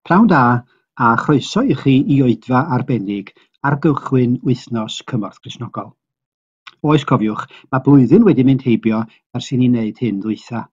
Pnawn da a chroeso i chi i oedfa arbennig ar gychwyn wythnos Cymorth Gristnogol. Oes cofiwch, mae blwyddyn wedi mynd heibio ers i ni wneud hyn ddwytha.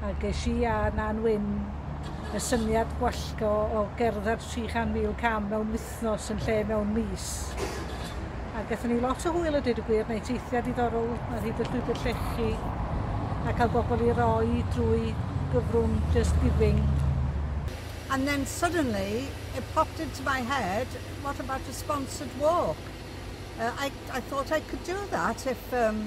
A ges i a Nan Wyn y syniad gwallgo o gerdded 300,000 cam mewn wythnos yn lle mewn mis. A gaethon ni lot o hwyl a dweud y gwir, neu teithiau diddorol ar hyd y llwybr llechi, a cael bobl i roi drwy gyfrwng Just Giving. And then suddenly it popped into my head, what about a sponsored walk? Uh, I, I thought I could do that if um,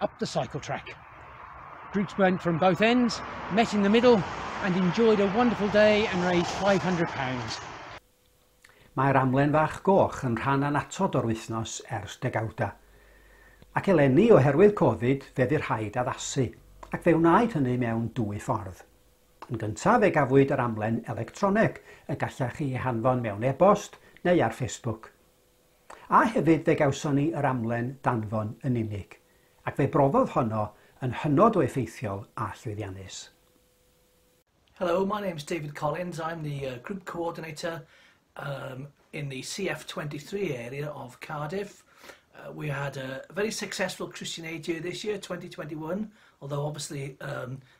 up the cycle track. Groups went from both ends, met in the middle and enjoyed a wonderful day and raised £500. Mae'r amlen fach goch yn rhan anatod o'r wythnos ers degawda. Ac eleni oherwydd Covid fe fu rhaid addasu, ac fe wnaed hynny mewn dwy ffordd. Yn gyntaf fe gafwyd yr amlen electroneg y gallech chi ei hanfon mewn e-bost neu ar Facebook. A hefyd fe gawson ni yr amlen danfon yn unig, ac fe broddodd honno yn hynod o effeithiol a llwyddiannus. Hello, my name's David Collins, I'm the uh, group coordinator um, in the CF23 area of Cardiff. Uh, we had a very successful Christian Aid year this year, 2021, although obviously um,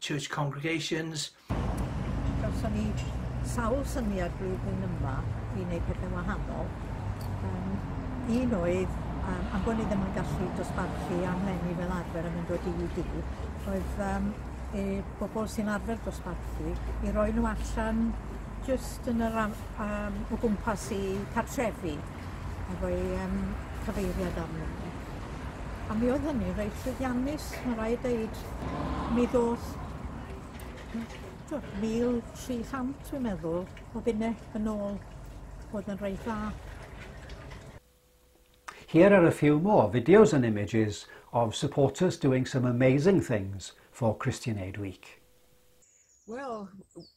church congregations. Gawson ni sawl syniad flwyddyn yma i wneud pethau wahanol. Um, un oedd, um, am bod ni ddim yn gallu dosbarthu am lenni fel arfer yn mynd o dydd i dydd, oedd um, e, bobl sy'n arfer dosbarthu i roi nhw allan jyst yn yr am, um, o gwmpas i cartrefi efo'i um, cyfeiriad arnyn nhw. A mi oedd hynny'n reit llwyddiannus, mae'n rhaid dweud. Mi ddoth t'wod 1,300 dwi'n meddwl o bunne yn ôl. Oedd yn reit dda. Here are a few more videos and images of supporters doing some amazing things for Christian Aid Week. Well,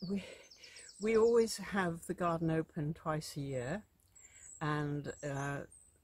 we, we always have the garden open twice a year and uh,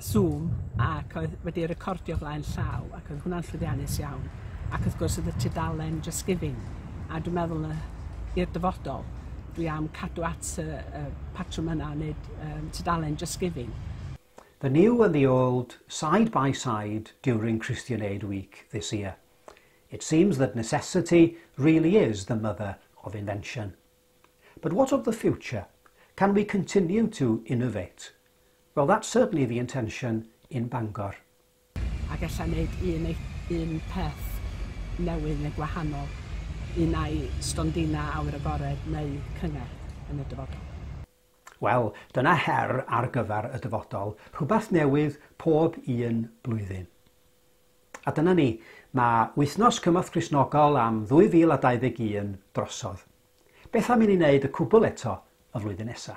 Zoom ac oedd wedi recordio flaen llaw ac oedd hwnna'n llwyddiannus iawn ac wrth gwrs oedd y tudalen Just Giving a dwi'n meddwl yy i'r dyfodol dwi am cadw at y y patrwm yna o neud yym tudalen Just Giving. The new and the old side by side during Christian Aid Week this year. It seems that necessity really is the mother of invention. But what of the future? Can we continue to innovate? Well that's certainly the intention in Bangor. Ac ella neud un ei- un peth newydd neu gwahanol un ai stondina awyr agored neu cyngerdd yn y dyfodol. Wel, dyna her ar gyfer y dyfodol, rhywbeth newydd pob un blwyddyn. A dyna ni, mae Wythnos Cymorth Cristnogol am 2021 drosodd. Beth am i ni wneud y cwbl eto y flwyddyn nesa?